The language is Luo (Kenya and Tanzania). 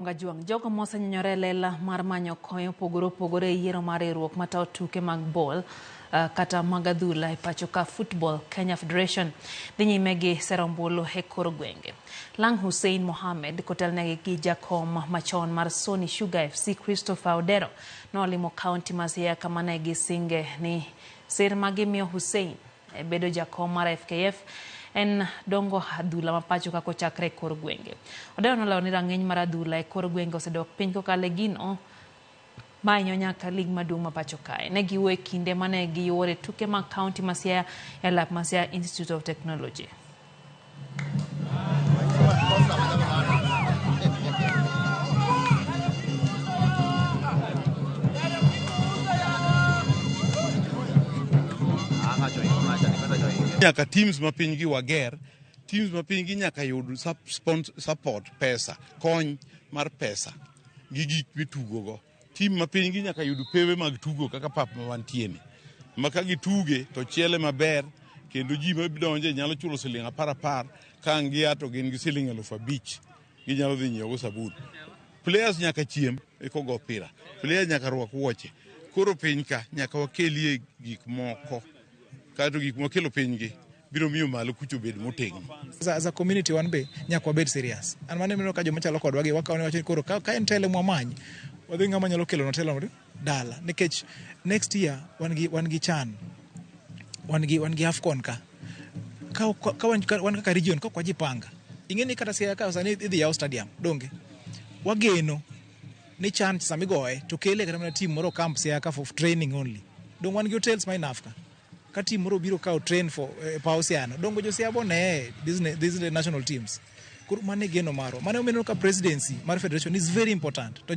Ongajwang'. Jogo mosenyonyore e lela mar manyo kony opogore opogore e yiero mar riwruok matayo tuke mag bol Uh, kata mag adhula e pacho ka Football Kenya Federation dhi nyime gi sero ombulu e kor gwenge. Lang Hussein Mohamed kotelnegi gi jakom machon mar Sony Sugar FC Christopher Odero nolimo kaunti ma Siaya kama ne gisinge ni sir ma gimiyo Hussein E bedo jakom mar FKF en dongo adhula ma pachoka kochakre e kor gwenge. Odeyo nolero ni rang'iny mar adhula e kor gwenge osedok piny kokalo e gino ma hinyo nyaka lig maduong' ma pacho kae. Ne giwuo e kinde mane giyuore tuke mag kaunti ma Siaya e lap ma Siaya Institute of Technology. nyaka teams ma pinygi wager teams ma pinygi nyaka yud sup- spons- support pesa kony mar pesa gi gik mitugogo Tim ma pinygi nyaka yud pewe mag tugo kaka pap ma wantieni, ma ka gituge to chiele maber kendo ji ma donje nyalo chulo siling' apar apar ka ang' gia to gin gi siling' elufu abich ginyalo dhi nyiewogo sabun. Players nyaka chiem ekogo opira, players nyaka rwak wuoche. Koro piny ka nyaka wakelie gik moko kaeto gik mwakelo pinygi biro miyo malo kucho bed motegno. As a community wan be nyaka wabed serious. An mane mino ka joma chalo kodwa gi wakawo ni wacho ni koro ka, ka en tele mwamany wadhi ng'ama nyalo kelo na telo dala nikech next year wan gi wan gi chan wan gi wan gi afcon ka ka, ka, ka wan, ka, wan kaka region ka kwajipanga ing'e ni kata siaya ka sani idhi yaw stadium donge wageno ni chan samigoye to kele kata mana team moro camp siaya ka for training only dong wan gi hotels ma enough ka Ka team moro obiro kawo train for eh, pa Osiano, dongo Josiaya bo ne these na- these national teams. Koro mano e geno marwa. Mano omiyo ineno ka presidency mar federation is very important. To